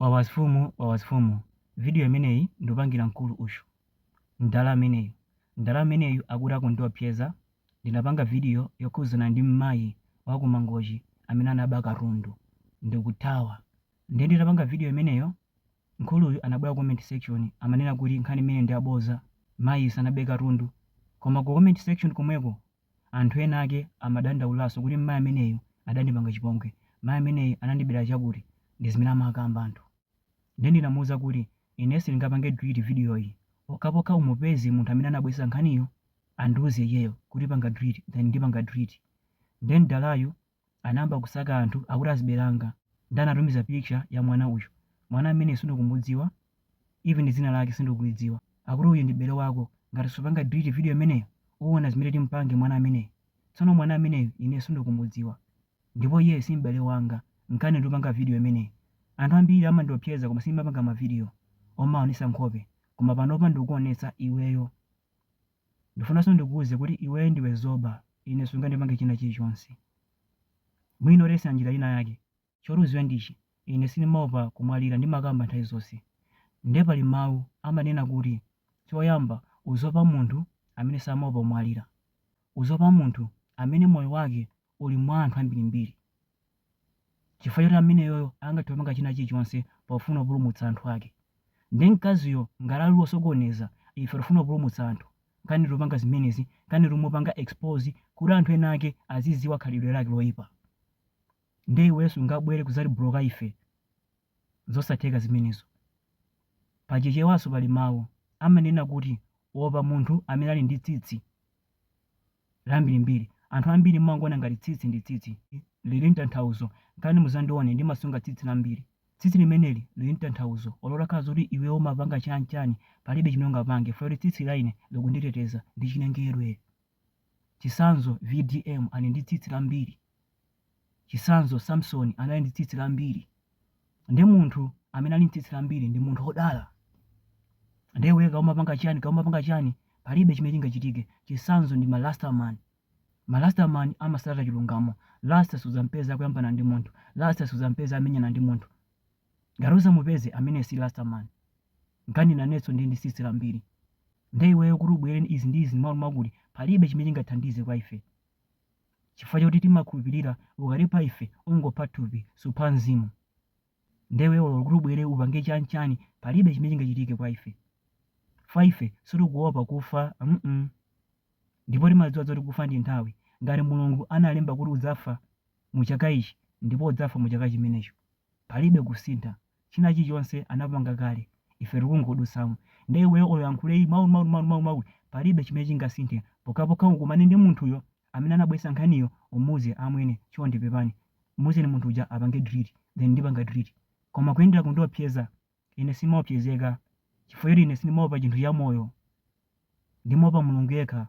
Wawa mfumu wawa mfumu video imeneyi ndupangira mkulu uyu mdala ameneyu mdala ameneyu akuti akundiopseza ndinapanga video yokhuzana ndi mmayi waku mangochi amene anaba katundu ndikuthawa ndiye nditapanga video imeneyo mkuluyu anabwera ku comment section amanena kuti nkhani imeneyi ndi yaboza mayi sanabe katundu koma ku comment section komweko Anthu ena ake amadandaulanso kuti mayi ameneyu adandipanga chipongwe, mayi ameneyu anandibera chakuti, ndi zimene amakamba anthu. Nde ndinamuuza kuti ine sindingapange delete video yi pokhapokha umupeze munthu amene anabweretsa nkhaniyo andiuze iyeyo kuti panga delete then ndipanga delete. Nde mdalayu anayamba kusaka anthu akuti azibale anga nde anatumiza picture ya mwana uyu mwana ameneyu sindikumudziwa even dzina lake sindikulidziwa akuti uyu ndi m'bale wako ngati supanga delete video imeneyo uwona zimene timpange mwana ameneyu tsono mwana ameneyu ine sindikumudziwa ndipo iyeyu si m'bale wanga nkani ndupanga video imeneyi anthu ambiri amandiopseza koma sindimapanga ma video omaonesa nkhope koma panopa ndikukuonetsa iweyo Ndifunanso ndikuuze kuti iweyo ndiwe zoba, ine sungandipange china chilichonse. Mwina utayesera njira ina yake. Choti udziwe ndichi, ine sindimaopa kumwalira ndimakamba nthawi zonse. Nde pali mau amanena kuti choyamba udziopa munthu amene samaopa kumwalira. Udziopa munthu amene moyo wake uli mwa anthu ambirimbiri. chifukwa choti ameneyoyo angathe kupanga china chilichonse pofuna kupulumutsa anthu ake. Nde mkaziyo ngati ali wosokoneza, ife tikufuna kupulumutsa anthu, nkani tikupanga zimenezi, nkani tikumupanga expose kuti anthu ena ake azidziwa khalidwe lake loipa. Nde iweyo sungabwere kudzatibloka ife, zosatheka zimenezo. Pa Chichewanso pali mawu amanena kuti, Opa munthu amene ali ndi tsitsi. lambirimbiri. Anthu ambiri mumangoona ngati tsitsi ndi tsitsi. Lili n'tanthauzo. Nkani muzandione ndimasunga tsitsi lambiri. Tsitsi limeneli lili n'tanthauzo. Olo utakhala zoti iweo umapanga chani chani palibe chimene ungapange chifukwa choti tsitsi laine likunditeteza. Ndichinengerwe. Chitsanzo, VDM ali ndi tsitsi lambiri. Chitsanzo, Samsoni anali ndi tsitsi lambiri. Ndiye munthu amene ali ndi tsitsi lambiri ndi munthu wodala. Ndiye iweyo kaya umapanga chiyani, kaya umapanga chiyani, palibe chimene chingachitike. Chitsanzo ndi ma Rasta man. Ma Rasta man amatsata chilungamo. Rasta sudzam'peza akuyambana ndi munthu. Rasta sudzam'peza amenyana ndi munthu. Ngati udzamupeze, ameneyo si Rasta man. Nkani nanenso ndili ndi tsitsi lambiri. Ndiye iweyo kuti ubwere ndi izi ndi izi ndi mwakuti mwakuti, palibe chimene chingathandize kwa ife. chifukwa choti timakhulupilira ukatipha ife ungopha thupi supha mzimu nde iwe olo kuti ubwere upange chan chan palibe chimene chingachitike kwa ife chifukwa ife sitikuopa kufa mm ndipo timadziwa zoti kufa ndi nthawi ngati mulungu analemba kuti udzafa mu chaka ichi ndipo udzafa mu chaka chimenecho palibe kusintha China chilichonse anapanga kale ife tikungodutsamo nde iweyo olo uyankhule ii mau mau mau mau mau palibe chimene chingasinthe pokhapokha ukumane ndi munthuyo amene anabweretsa nkhaniyo umuuze amwene chonde pepani muuzeni munthu uja apange delete then ndipanga delete koma kuyendera kundiopseza ine sindimaopsezeka chifukwa choti ine sindimaopa chinthu chamoyo ndimaopa Mulungu yekha